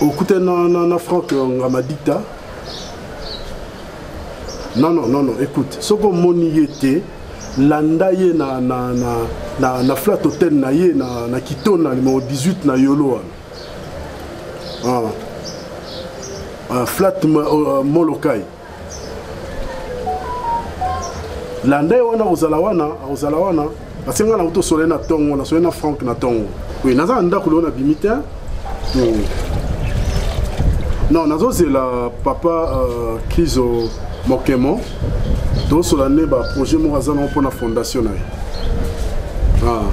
okute na, na, na frank ngamadikta non non non non écoute soki omoni ye te landa ye na, na, na, na, na flat hotel na ye na, na kitona numero 18 na yolo wana ah. ah, flat uh, molokai landa ye wana akozala wana akozala wana parce ngai nango tosole na ntongo nasole na frank na ntongo oye naza na ndako lelo nabimi te hmm. non nazozela papa euh, krizo mokemo tosola nde baprojet moko aza nango mpo na fondation na ye ah.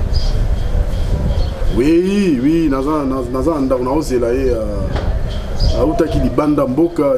wi wi naza na ndako naozela ye euh, autaki libanda mboka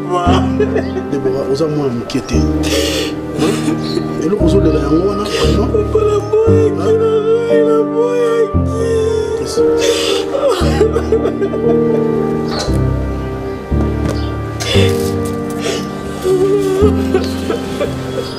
debora oza mwana moke te eloko ozolela yango wana Yes.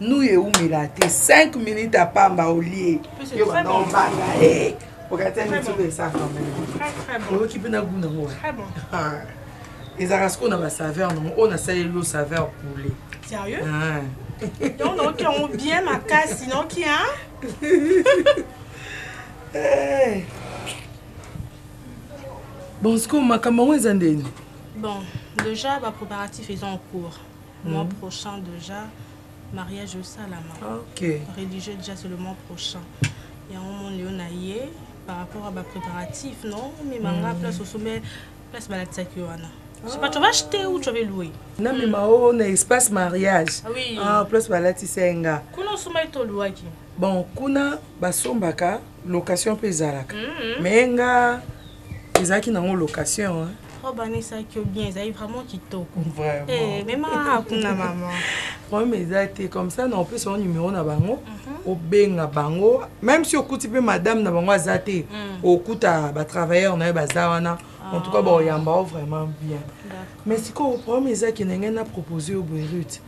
nuyi ewumela te 5 minute ya pamba olie yo banda obanga e okati mituna esaka oyoki mpe na gu nango ezalaka sikoyo na basaveur nango oyo nasaleli yo saveur poule sérieux ah. donc naoki yango bien makasi naoki a eh. bon sikoyo makambo yango eza ndeni bon déjà baproparatif eza en cours mois prochain dejà mariage esalama okay. religieux déjà c'est le mois prochain yango monde yo na ye par rapport à bapréparatif non mimanga mm. place osombe place balakisaki wana Je sais pas, tu vas acheter ou tu vas louer Non, mais ma on a espace mariage. Ah oui. Ah, plus voilà, tu sais, nga. Kuna suma ito louaki. Bon, kuna basombaka location pe zalaka. Mm -hmm. Mais nga ezalaki nango location hein? obanisaki oh, yo bien ezali vraiment kitoko eh, mema kuna mama problème eza te comme ça na opesa yo numero na bango mhm. obenga bango même si okuti mpe madame na bango aza te mm. okuta batravailleur na ye baza wana ah. en tout cas baoyamba yo vraiment bien mais sikoyo problème eza kende ngai na propose yo boerute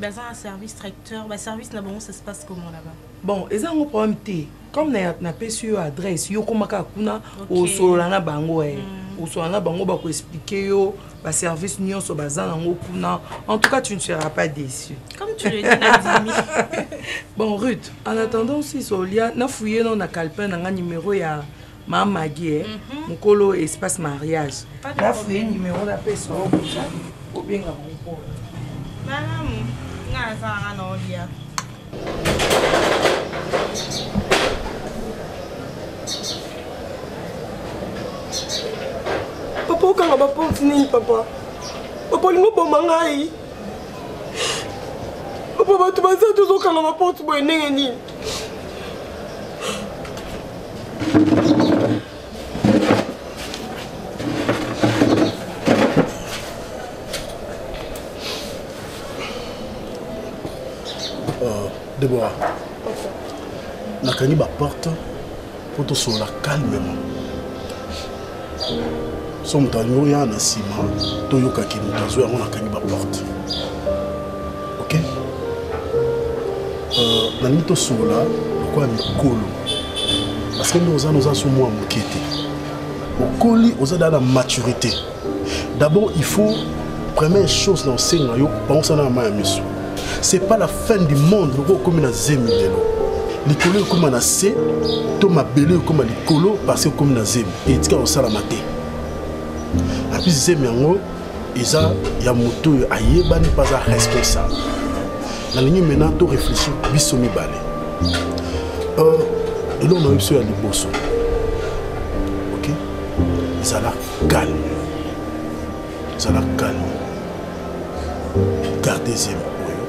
baza na service tracteur ba service na bango ça se passe comment là-bas bon eza yango problème te comme napesi yo adresse yo koma kaka kuna osolola na bango e mm. osolola na bango bakoexplike yo baservice nyonso baza nango kuna en tout cas tu ne seras pas déçu comme tu le dis bon ruth en attendant si solia nafouye no na calpin na nga numéro ya Ma Maggie, eh, mhm. mukolo espace mariage. Na fouye numéro na pesa o kusa o benga mukolo. Malamu, nga na sala na olia. Papa okanga ba porte nini papa? Papa olingi oboma ngai? Papa bato baza tozokanga ba porte boye ndenge nini? Deborah, nakangi baporte mpo tosolola calmement so moto alingi oya na nsima toyokaki moto azwi yango nakangi baporte ok euh, nalingi tosolola lokola mikolo parce que nde oza noza so mwa moke te okoli oza daa na maturité D'abord, il faut, première chose, dans le Seigneur, on s'en a mal à miso. C'est pas la fin du monde, le gros comme la zemi de l'eau. likolo ekóma na se to mabele ekóma likolo parce ekómi na zemi etika kosalama te api zemi yango eza ya moto oyo ayebani mpe aza responsable nalingi maintenant to réfléchir biso mibale euh, eloko na yo biso ya liboso ok ezalaka Calme. Zala calme. Gardez zelo oyo.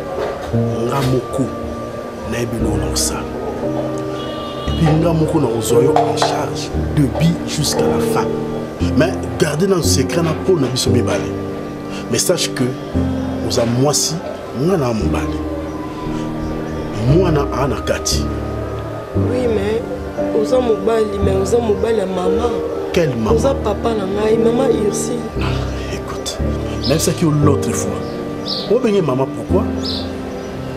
Nga moko nayebi eloko na kosala. Epuis nga moko na kozwa yo en charge de bi jusqu'à la fin. Mais garde nano secret na pole na biso mibale. Mais sache que oza mwasi nga na mobali. Mwana aa na kati. Oui mais oza mobali mais oza mobali ya mama. Quel mama? Oza papa na ngai mama Ursi. Ah, écoute, même ça qui l'autre fois. Obenge mama pourquoi?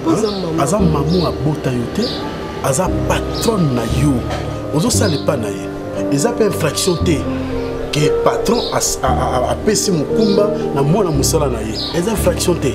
Oza hein? mama. Aza mamu abota yo te. Aza patronne na yo. Ozo sala epa na ye. Eza pe infraction te. ke patron apesi mokumba na mwana mosala na ye eza infraction te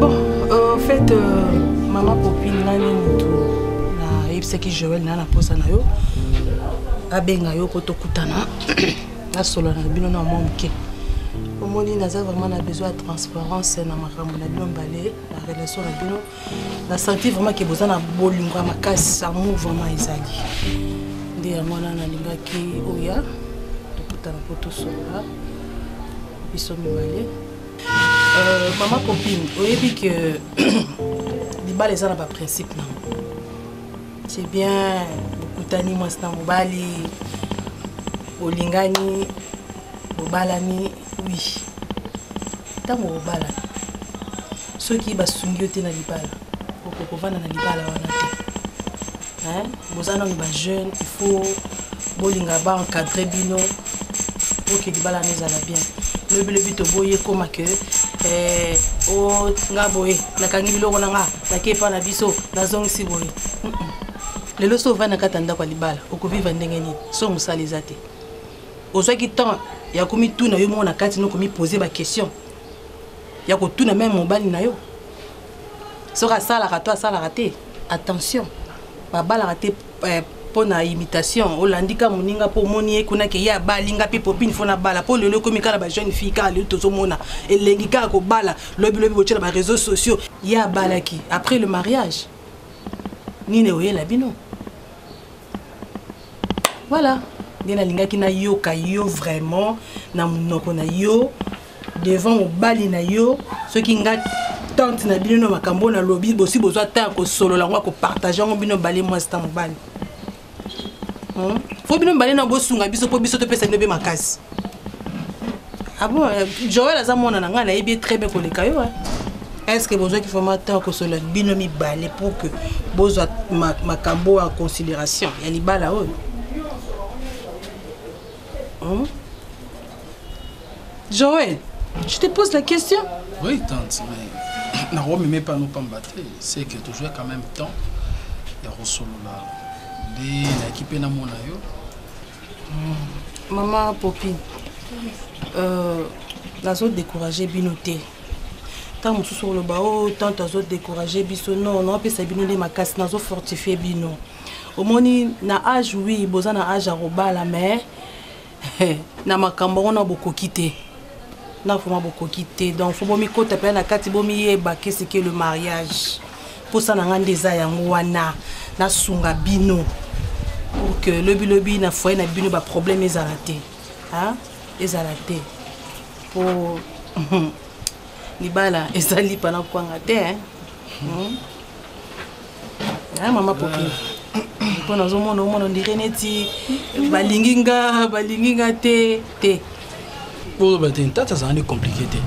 bon euh, en fait euh, mama popine nga nde motu nayebisaki joel na na mposa na yo abenga yo mpo tokutana nasolola na bino na mwa moke omoni naza vraiment na besoin ya transparence na makambo na bino mbale na relation na bino na senti vraiment ke boza na bolingo ya makasi amour vraiment ezali nde yango wana nalingaki oya tokutana mpo tosolola biso mibale euh, mama popine oyebi ke libala eza na baprincipe nango c'est bien bokutani mwasi na mobali bolingani bobalani wi oui. ntango obala soki basungi yo te na libala okoki kovanda na libala wana te boza nano bajeune il faut bolinga baencadre bino oke libala na ezala bien lobilobi toboyi ekoma ke eh, o nga boye nakangi biloko na nga nake epa na biso nazongisi boye lelo so ovandi na kati ya ndako ya libala okoviva ndenge nini so mosala eza te ozwaki temps ya komituna yo moko na kati noko mipose baquestion ya kotuna meme mobali na yo soki asalaka to asalaka te attention babalaka te eh, mpo na imitation olandi ka moninga mpo omoni ye kuna ke ye abali nga mpe popine fo nabala mpo lelo ekomi kaka na bajeune fille kaka lelo tozomona elengi kaka kobala lobilobi botye na bareseau sociaux ye abalaki après le mariage nini oyela bino Voilà, nde nalingaki nayoka yo vraiment na monoko na yo devant mobali na yo soki nga tante na bino na makambo oyo nalobi bosi bozwa ta ya kosolola yango ya kopartage yango bino bale mwasi ta mobali hmm? fo bino mibale na bosunga biso mpo biso topesa bino mpe makasi Ah bon, euh, Joël aza mwana na ngai nayebi ye très bien koleka yo hein. est ce que bozwaki vraiment temps ya kosolola bino mibale pour que bozwa ma- makambo oyo en considération ya libala oyo Hmm? Joël, je te pose la question. Oui, tante, mais na Rome mais pas nous pas battre, c'est que tu jouais quand même temps ya kosolola nde nayaki mpe namona yo mama popi euh, nazo décourage bino te ntango mosusu oloba o oh, tante azo décourage biso non naopesa bino nde makasi nazo fortifie bino omoni na age wi boza na age ya kobala mais na makambo yango na bokoki te na vraimen bokoki te donc fo bomikota mpena na kati bomiyeba keseke le mariage mposa na ngai nde eza yango wana nasunga bino pour que lobilobi na foye na bino baproblème ezala te ezala te mpo libala eza lipa na kwanga te hmm? mama popi mpo nazomona omona ondire neti balingi nga balingi nga te te boloba te ntata azalani komplike te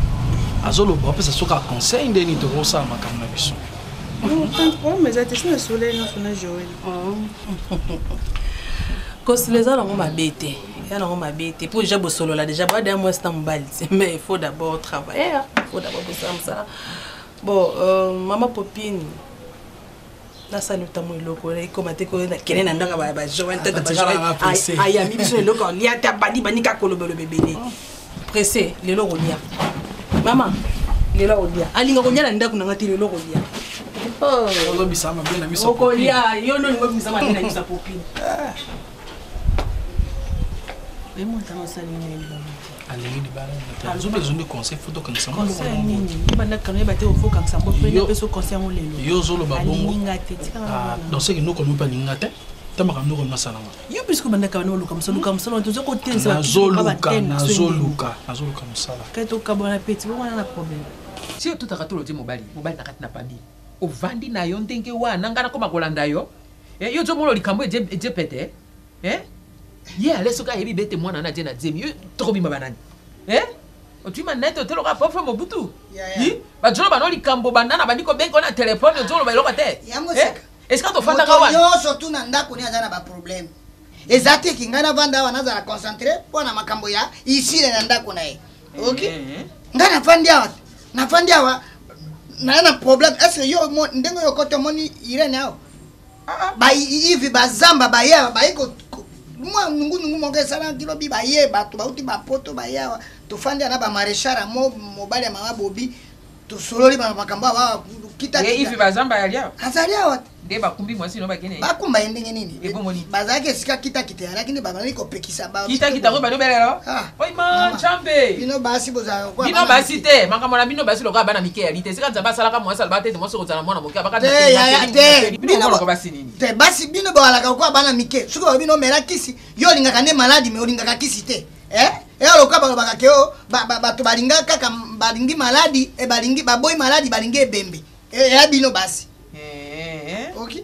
azoloba apesa soki aconseil nde nini tokosala makambo na biso problème eza te so na soleil nyonso na joel kosila eza nango mabe te eza nango mabe te mpo deja bosolola deja boada ya mwasi na mobali te mais il faut d'abord travailler il faut d'abord bosala mosala bon euh, mama popine nasali otambo eloko ekoma te koyo nakende na ndanga ba joel tata ba joel ayambi biso eloko alia te abandi bandi kaka kolobaloba ebele oh. presse lelo okolia mama lelo akolia alinga kolia na ndako na ngai te lelo okolia oh. okolia yo nde olinga obimisa mabe na biso ya popine emonta mosali na elongo alingi libala nzobe ezwi nde conseil fo tokangisa yo ozoloba bongondonc seke noko mpe alinga te ta makambo noko masalama yo puiske obandaka bana oluka mosala luka mosala wana toza kotenaazoluka nazoluka mosala kai tokabwana peti bowana na problème si otutaka tolo te mobali mobali na kati na pami ovandi na yo ndenge wana ngai nakoma kolanda yo eh, yo ozomona likambo eje pete eh ye ale soki ayebi bete mwana na je na zemi yo tokobima banani eh otui manete oteloka pofre mobutu yi bajolo bano likambo banda na bandi kobenga ona telefone ozoloba eloko te eh? esika tofandaka wana nyonso tu na ndako ni aza na baproblème eza te ki ngai navanda awa nazala concentré mpo na makambo ya isile na ndako na ye eh, ok eh, eh. ngai nafandi awa nafandi awa naye na problème est ce que yo ndenge oyo koti omoni irene awa baivi bazamba baye awa baye mwa nungunungu moko esalaki lobi baye bato bauti bapoto baye awa tofandi ana bamarechara mo mobali ya mama bobi tosololi bana makambo awa kitaivi bazamba yali awa azali awa te nde bakumbi mwasi no bakende bakumba ye ndenge nini bazalaki esika kita te alaki nde babandaki kopekisa kitakita oyo bado belelo ah, oima ncambe bino basi bozalabino basi te makambo na bino basi lokola bana mike yali te esika nzambe asalaka mwasi alobaka te ete mwasi okozala na mwana moke abakate basi bino bowalaka lokola bana mike soki balobi no mela kisi yo olingaka nde maladi me olingaka kisi te eh? eya lokola balobaka ke o bato balinga kaka balingi maladi eh, balingi baboyi maladi balingi ebembe eya eh, bino basi eh, oki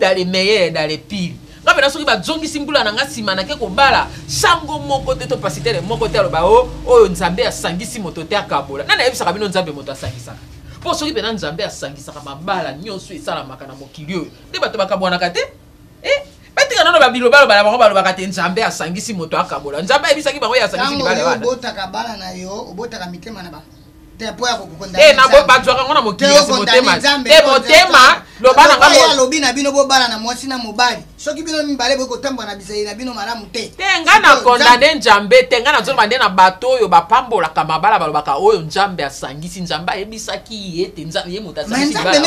dans les meilleurs et dans les pires nga pena soki bazongisi mbula na nga nsima nake kobala sango moko te to pasitele moko te aloba o oh, oyo nzambe asangisi moto te akabola nani ayebisaka bino nzambe moto asangisaka mpo soki pena nzambe asangisaka mabala nyonso esalamaka na mokili oyo nde bato bakabwanaka te eh? batika nano babiloba loba na bango balobaka te nzambe asangisi moto akabola nzambe ayebisaki bango ye asangisi libala wana obotaka bala na yo obotaka mitema na bango Eh, bazwaka ngo na mokili kasi motema te motema loba na ngai alobi na bino bobala na mwasi na mobali soki bino mibale boyi kotambola na bizali na bino malamu te te ngai na kondane njambe te ngai nazoloba nde na bato oyo bapambolaka mabala balobaka oyo njambe asangisi njambe ayebisaki ye te ye moto asangisnde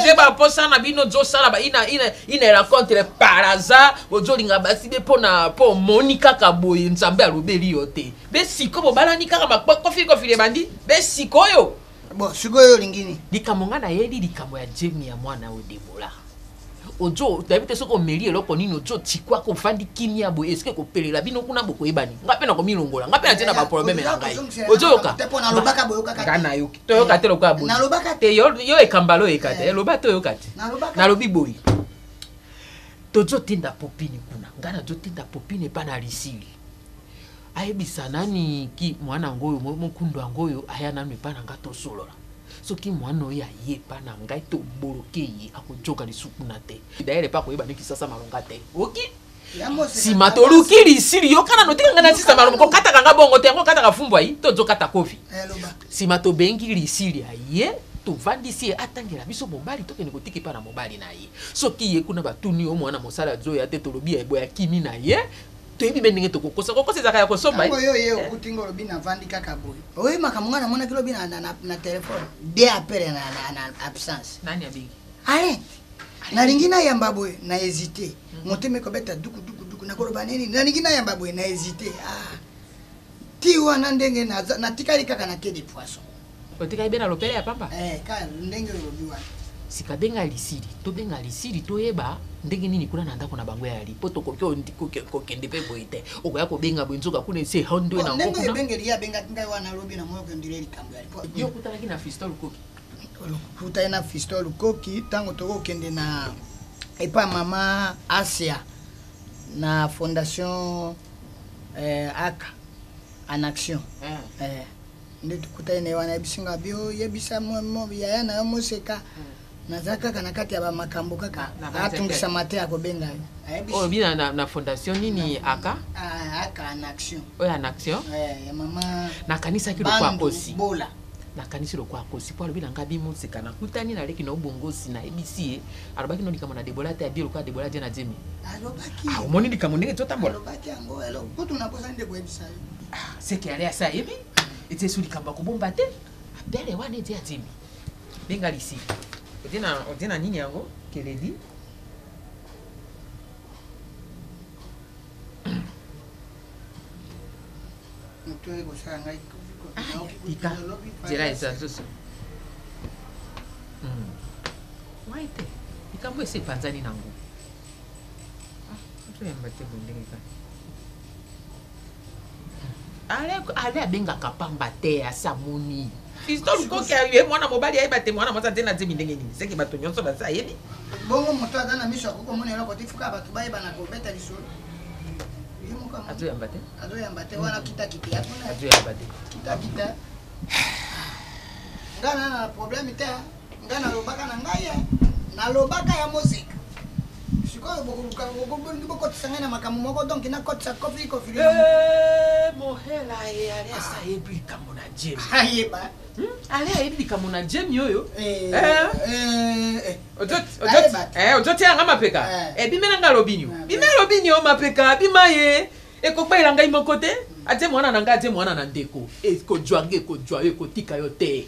eh, baposa na bino ozosala ina racontre par hasard ozolinga basi be mpo omoni kaka boye njambe alobeli yo te be siko bobalani kaka makofili kofili ebandi be sikoyo bon sikoyo olingi nini likambo ngai nayebi likambo ya jemi ya mwana oyo debola ojo nayebi te soki omeli eloko nini ojo tikwaka ofandi kimia boye eske ekopelela bino kuna bokoyebani ngai mpe nakomilongola ngai mpe natie na baprobleme na ngai ozoyoka ngai nayoki toyoka te lokola boye te yo ekambala oyeka te eloba eh. te oyoka te nalobi boye tozotinda popini kuna ngai nazotinda popini epai na lisili ayebisa nani ki mwana yango oyo mokundu yango oyo aya nanu epai na ngai tosolola soki mwana oyo aye epai na ngai toboloke ye akojoka lisusu kuna te dayele epai akoyeba nde kisasa malonga te oki nsima toluki lisili yoka nano tika ngai nasisa malonga kokataka ngai bongo te yango okataka fumbu ayi tozokata kofi nsima eh, tobengi lisili aye tovandisi ye atangela biso mobali tokende kotika epai na mobali na ye soki ye kuna batuni yo mwana mosala azoya te tolobi ya eboya kimi na ye toyebi mpe ndenge tokokosa kokosa ezalaka ya kosomba eh? oyo ye eh. okuti ngo olobi navandi kaka boye oyebi makambo ngai namonaki lobi na telefone de apele na absence nani abengi arete nalingi nayamba boye na hésité hmm. motema ekobeta dukudukuduku nakoloba nini nalingi nayamba boye na hésité ah. ti wana ndenge natikali kaka na ke de poisson otikaki be na lopele ya pamba eh, ka ndenge olobi wana sika benga lisili tobenga lisili toyeba ndenge nini kuna na ndako na bango ya yali mpo tokoki kokende mpe boye te okoya kobenga boye nzoka kuna ese hondo na yo okutanaki na fisto lukoki okutani na fisto lukoki ntango tokokende na epa mama asia na fondation eh, aka en action eh. Eh. nde tokutani na ye wana ayebisi nga bio yebisa yaya na yo moseka naza kaka na kati ya bamakambo kaka atungisama te akobenga yo oyo bina na, na fondation nini aka ah, aka en action oyo en action eh, ya mama nakanisaki lokwa akosi bola nakanisi lokwa akosi mpo alobi na ngai bimoseka nakutani naleki na obongosi nayebisi ye alobaki no likambo na debola te abie lokola debola je na jemi ah, omoni likambo ndenge totambola ah, seke ale asi ayebi ete esu likambo ya kobomba te abele wana ete atimi benga lisi ote na nini yango keledi moto oyo ekosala ngai tika nzela eza zoso wai te likambo esi epanzani nango ah, toyamba te bondenge kaka ale ale abengaka pamba te asi amoni fisto lukoki aye mwana mobali ayeba te mwana mwasi atie na zemi ndenge nini seke bato nyonso basi ayebi bongo moto aza na miso akoki komona eloko te fuka bato bayebana kobeta lisolo azoyamba te azoyamba te wana kitakite azoyamba te kitakite nga na na problème te Nga na lobaka na ngai eh. Na lobaka ya musique. Sikoyo bokoluka bokolingi bokotisa ngai na makambo moko donc na kotisa kofi kofi. Eh mohela ye ale asa ah. yebi likambo na Jim. Ayeba. Ah, Hmm? ale ayebi likambo na jemi oyo ozotyela nga mapeka ebimela nga alobinio bima alobinio mapeka bima ye ekokbayela ngai moko te atie mwana na ngai atie mwana na ndeko ekojwa nga ekojwa yo ekotika yo te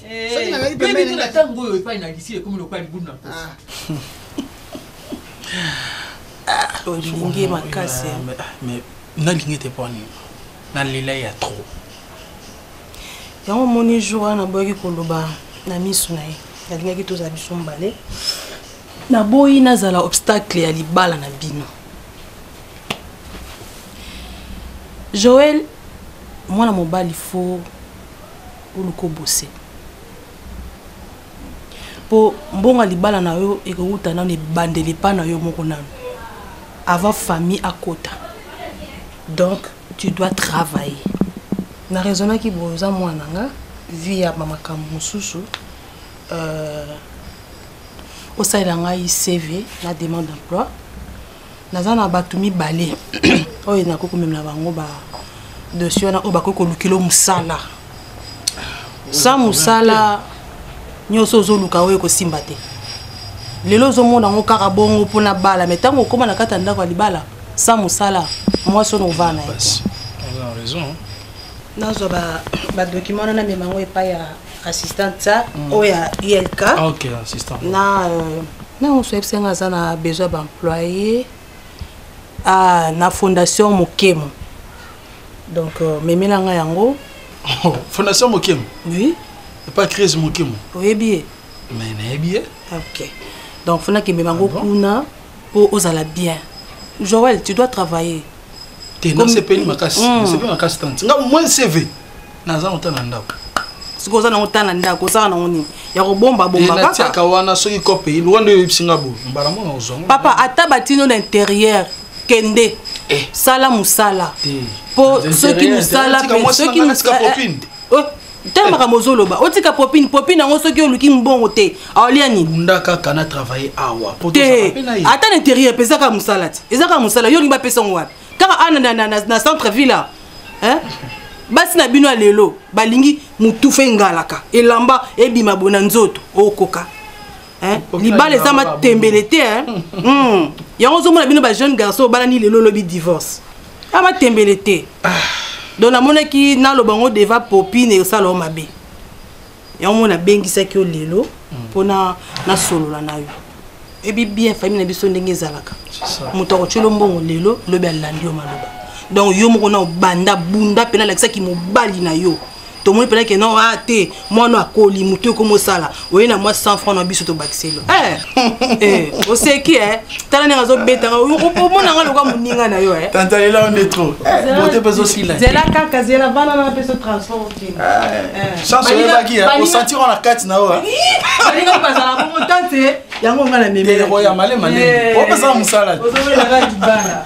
Eh, soki nazali pembeni na ntango oyo epai na lisi ekomi lokola libulu na mposa olingi makasi nalingi te mpo nini nalela ya trop yango omoni jour wana naboyaki koloba na miso na ye nalingaki tozala biso mbale naboyi nazala obstacle ya libala na bino joel mwana mobali fo Oluka obose. Po mbongo ya libala na yo ekowuta nanu ebandeli epa na yo moko nanu. Avant famille akota. Donc tu dois travailler. Na raisonnaki boye oza mwana na nga vie ya ba makambo mosusu euh, osalela ngai CV na demande d'emploi naza na bato mibale oyo nakoki komemela bango ba dosi wana oyo bakoki kolukilo mosala sa mosala nyonso ozoluka oyo ekosimba te lelo ozomona yango kaka bongo mpo na bala mai ntango okóma na kati ya ndako ya libala sa mosala mwasi ono ovaa na ye nazwa badokima wana namema yango epai ya assistant ça mm. oyo ya ilk ah, ok assistant na euh, na mosu ayebisa nga aza na besoin baemployé ah, na fondation mokemo donc euh, memela nga yango oh, fondation mokemo oui epa crise mokemo oyebi ye mais nayebi ye ok donc fona kemema ngo ah kuna mpo ozala bien joel tu dois travailler te nasepeli makasi nasepeli mm. makasi tante nga moins cv naza nota na ndako soki oza nango ta na ndako osaka nango nini ya kobomba bombakaka wana soki cope elwa nde oyebisi nga boye mbala mona ozwango papa ata batino na interieur kende eh. sala mosala mpo soki mosala soki mosala eh, eh. ntango makambo ozoloba otika popine popine yango soki oluki mbongo te aolia nini bunda kaka na travaille awa te ata na interieur mpe ezaka mosala te ezaka mosala yo olingi bapesa yango wapi kaka ana na, na, na, na centre ville hein? basi na bino ya lelo balingi motufa engalaka elamba ebima bona nzoto okoka hein? libala eza matembele te hein? mm. yango ozomona bino ba jeune garçon obalani lelo olobi divorce a matembele te ah. donc namonaki naloba yango deva popine esalao mabe yango mona abengisaki yo lelo mpo mm. nasolola na yo ebi bien famille na biso ndenge ezalaka moto akotyelo mbongo lelo lobi alandi yo maloba donc yo moko na obanda bunda mpena alakisaki mobali na yo tomoni mpena ke non a ah, te mwana akoli motu ekomi osala oye na mwa 100 franc na biso tobakiselo eh, eh, oseki e tala ndenge azobetaka omonanga loka moninga na yo e eh. tantalela yo nde trop bote mpe ezosila zela kaka zela bana na mpe so transport chance oyebaki osantir wana kati na oyo balingaki bazala bongo tante yango nga na memeoya male male opesaka mosala ozobelaka libala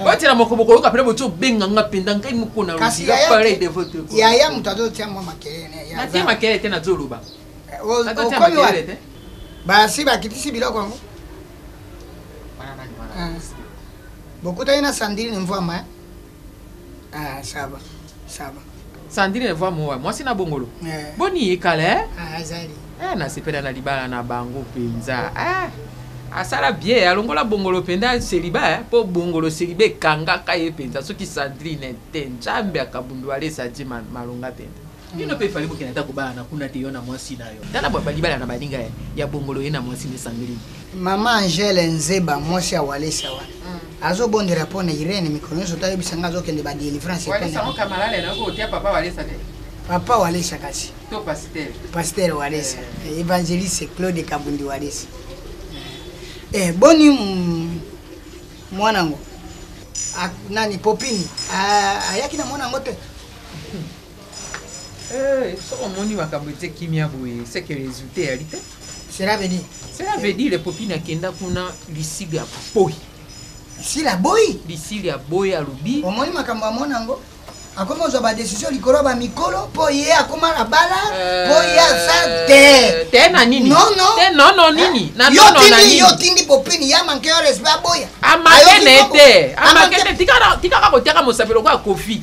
otyela moko bokoyoka mpena botyo obenga nga mpenza ngai moko na pareil de votre yaya moto azotya mwa makelele natye makelele te nazoloba eh, basi bakitisi biloko yango ah. bokutani na sandrine mvwama eh? Ah, ça va, ça va. Sandrine voix moa mwasi na bongolo eh. boni ye kala eh? ah, azali eh, nasepela na libala na bango mpenza eh. asala bie alongola bongolo mpenza seliba eh? mpo bongolo seliba ekangaka ye mpenza soki sandrine te nzambe akabundu alesa ti malonga mpenza bino mpe fali bokende ata kobala na kuna te yo na mwasi na yo tala balibala na baninga ya, ya bongolo ye na mwasi na esangeli mama angele nzeba mwasi ya walesa wana mm. azobondela mpo na irene mikolo nyonso toyebisa ngai azokende badelivrance papa walesa kasi paster walesa eh. eh, évangéliste claude kabundi walesa eh, boni mm, mwana yango nani popini ayaki na mwana yango te Eh, soki omoni makambo etie kimia boye seke resultat eyali te cela veut dire cela veut dire popine akenda kuna lisili ya boyi lisili ya boyi lisili ya boyi alobi omoni makambo amona yango akomi kozwa badesizio likolo ya bamikolo mpo ye akoma na bala mpo ye aza euh, te te na nini nono nini yo otindi popini ya manke yo respect aboya amakene te amakene tikaka kotiaka mosapi lokola kofi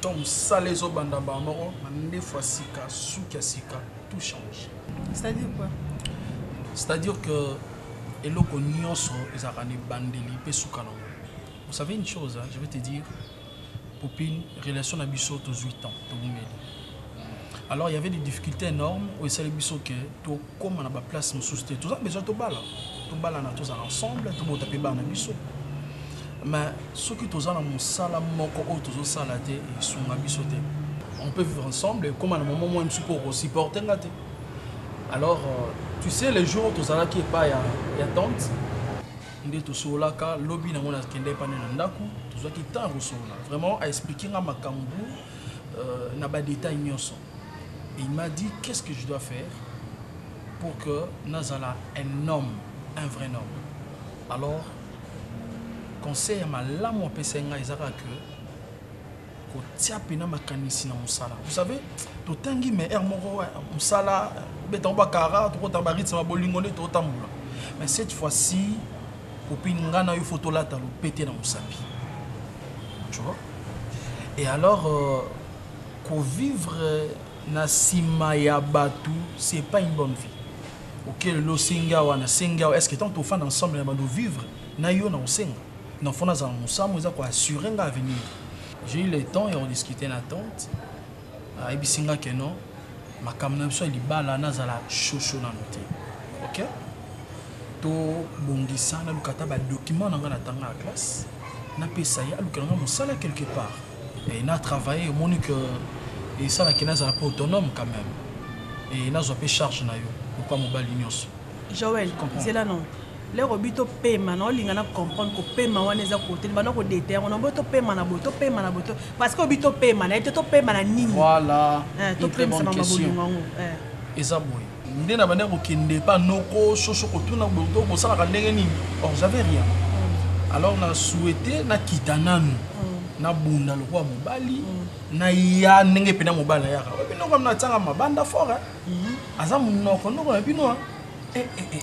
Ton musala ezo banda mbala moko mandefu ya sika suki ya sika tout change. C'est à dire quoi? C'est à dire que eloko nyonso ezalaka na ebandeli mpe suka nango vous savez une chose hein, je vais te dire popine relation na biso tozwi temps tobumeli alors il y avait des difficultés énormes oyo esali biso ke to koma na ba place mususu te toza besoin tobala tobalana tozala ensemble tobota mpe bana biso mais soki toza na mosala moko oyo tozosala te esunga biso te on peut vivre ensemble ekoma na momo mwa mosusu mpo okosupporte nga te alors euh, tu sais les jours tozalaki epai ya, ya tante nde tosololaka lobi nango nakenda epai nde na ndako tozwaki temps ya kosolola vraiment aexplike nga makambo euh, na badetail nyonso Il m'a dit qu'est ce que je dois faire pour que nazala un homme, un vrai homme. Alors conseil ya malamu apesaki ngai eza kaka que kotia mpena makanisi na mosala vous savez totangi mais heure moko mosala betango bakara tokota baritme ya bolingo nde totambola mais cette fois-ci kopini ngai na yo fo tolata lopete na mosapi tu vois et alors euh, Ko vivre na sima ya batu c'est pas une bonne vie oke lelo osengi awa na sengi awa est ce que tango tofanda ensemble na bando vivre na yo nako senga non faut nazala na mosambo eza ko assurer nga avenir j'ai eu le temps ya ko discuter na tante ayebisi nga que non makambo na biso ya libala nazala chaud chaud nanu te ok to bongisa naluka ata ba document na nga na tanga na classe napesa ye alukela nga mosala quelque part Et na travailler omoni que esala que nazala pe autonome quand même. Et nazwa pe charge na yo lokola mobali nyonso. Joël, zela non. lero bi topema na olinga na comprendre kopema wana eza kote libanda kodeta yango nambo topema na boye topema na boye parce que obi topema na ye te topema na nini voilà eh, une très bonne question eza boye nde na bande kokende pa noko soso kotuna boto bosalaka ndenge nini or j'avais rien mm. alors na souhaite nakita nanu mm. nabunda lokola mobali mm. na ya ndenge mpe na mobali nayaka binoko natyanga mabanda fort aza monoko noko na bino eh, eh, eh,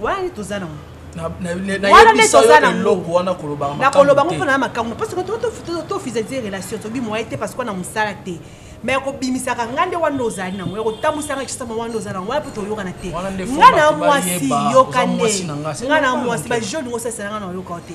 wana nde toza nango wana nde toza nangokoloba ngo mpona na makambo parce que tofisalize relation tobi moye te parce que na mosala te me ya kobimisaka ngai nde wana ozali nango ya kotambwisaka kisama wana oza nango wana mpo toyokana te ngai na mwasi yoka nde ngai na mwasi bajeune osaisela ngai na oyokao te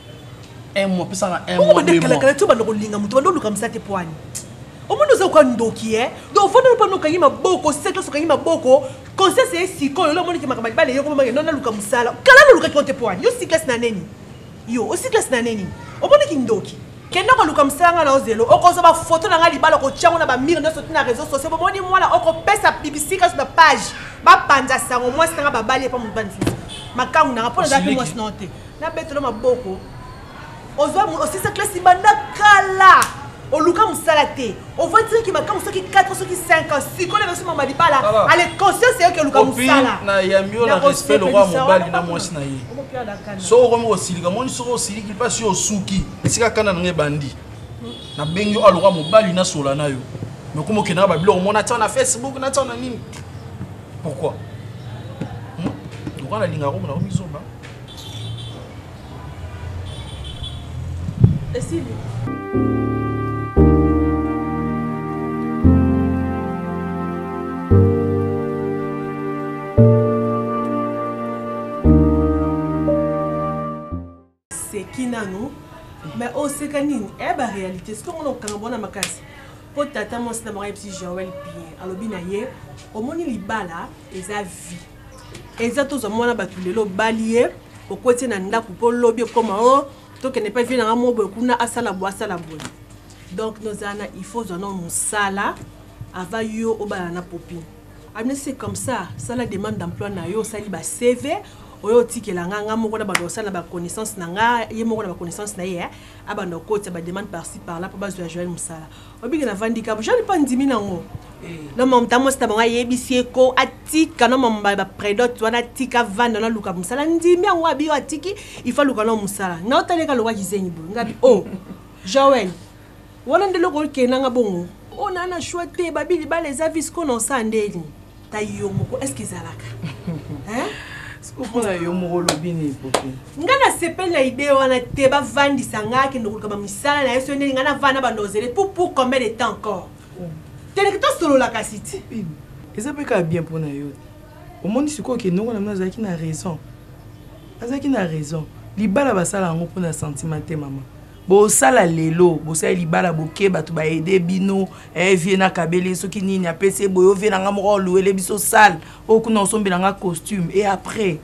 un mois pesa nga un mois deux mois kala tu bando kolinga mutu bando luka msate poani omoni oza oka ndoki e donc ofandi olopa no okangi maboko sete oso okangi maboko conscience eye sikoyo olo omoni ke makambo libala eyoko mamake no naluka mosala kala nolukaki yo te poani yo si classe na neni yo osi classe na neni omoni kindoki kende koluka mosala ngai na ozelo okozwa bafoto na ngai libala okotyango na bamire nyonso ti na réseau sociaux bomoni mwana okopesa bibisi kaso na page bapanza sango mwasi na ngai babali epa mobali mosusu makangu na ngai mpo nazalaki mwasi na yo te Na betelo maboko. Ozwa osisa classe banda kala. oluka mosala te ovandisaki ki makambo soki 4 soki 5 ans sikoyo naso mama libala ale conscience yoki oluka mosala nayambi yo na respect lokwa mobali na mwasi na ye soki okomi kosilika moni soki osiliki mpasi yo osuki esika kanda na ngai ebandi nabengi yo alokwa mobali nasola na yo nakomi okendaka babiloko mona atia na facebook natia na nini pourquoi lokwa nalingaka komona komizoba seki nanu me oseka oh, nini eya eh, baréalité soki omona kokanga bona makasi mpo tata mwasi na bango ayebisi joel bien alobi na ye omoni libala eza vie eza tozwa mwana bato lelo obali ye okweti ye na ndako mpo lobi ekoma o oh, tokende mpe vie na nga moko boye kuna asala boye asala boye donc nozala na il faut ozwa no mosala ava yo obala na popi amina ah, c'est comme ça sala demande d'emploi na yo osali ba cv oyo otikela nga nga moko na banda kosala na baconnaissance na nga ye moko na baconnaissance na ye eh, abanda kokotisa bademande parci par là mpo bazwa joel mosala obiki na vandi kabu jali pa ndimi nango na mamta mwasi na bango ayebisi ye ko atika na mamba ba predot wana atika vanda na luka mosala ndimi yango abi yo atiki il faut luka na mosala nga otaleka loka kizengi boye ngabi o oh, joel wana nde eloko okendanga bongo ona oh, na choix te babi libala eza visco na osa ndeni ta yo moko est ce que ezalaka mpona yo moko olobi nini popi ngai nasepeli na idee wana te bavandisa ngai akende koluka bamisala na ye soki ndeni ngai navanda banda ozele pour pour combien de temps encore oh. teleki tosolola kasi ti eza mpe kaka bien mpo na yo omoni sikoyo okende ngo na mino azalaki na raison azalaki na raison libala basala yango mpo na sentiment te mama Bosala lelo bosali libala boke batu ba aide bino eh vie na kabele soki nini apesi ye boye ovie na nga moko oluele biso sale oyo kuna osombela nga costume et après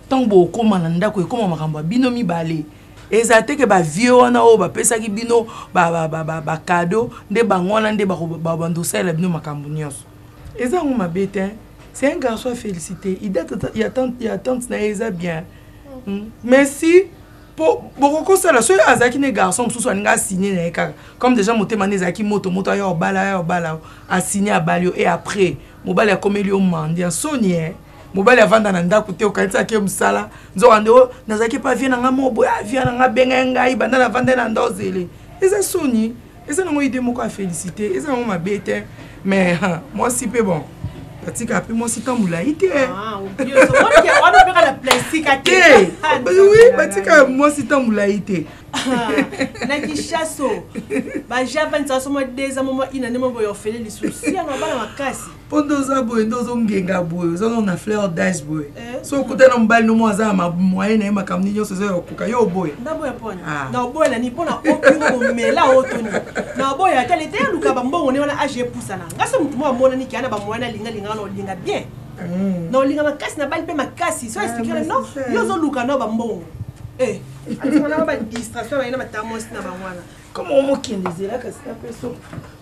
ntango bokoma na ndako ekoma makambo ya bino mibale ezala te ke bavie wana oyo bapesaki bino bakado nde bango wana nde babanda osalela bino makambo nyonso eza yango mabe te c'est un garçon ya félicité idate ya tante na ye eza bien hmm. mais si po bokokosala soki azalaki ne garçon mosusu alinga asigne na ye kaka comme déjà motema nde ezalaki moto moto aya obala aya obala asigne abali yo e après mobali akomeli yo mandi ya soni e mobali avanda na ndako te okanisaki ye mosala nzoka nde o nazalaki epa vie na ngai moko boye avia na ngai abengai ngai banda navanda ye na nda ozele eza soni eza nango idee moko ya félicité eza nango mabe te mais mwasi mpe bon batika mpe mwasi tambola ye te ah, oui batika mwasi tambola ye te na kishaso bajapani sasoma deza moma ina nde moboya ofele lisusu sianga bana makasi po nde oza boye nde ozongenga boye oza nano na fleur dage boye eh. so okuta na mobali nomo aza na mamoye na ye makambo nini nyonso ezoya kokoka yo oboya ah. na oboya na nini mpo na omela oyo toni na oboya ata leta eluka bambongo ne wana age epusana nga so motu mo amonani kea na bamoye na linga lingaka na olinga bien hmm. na olinga makasi na bali mpe makasi so ah, explike na no yo ozoluka nao bambongo eh. atimanaa badistraction baye na batamosi na bango wana koma omokende ezela kasi na peso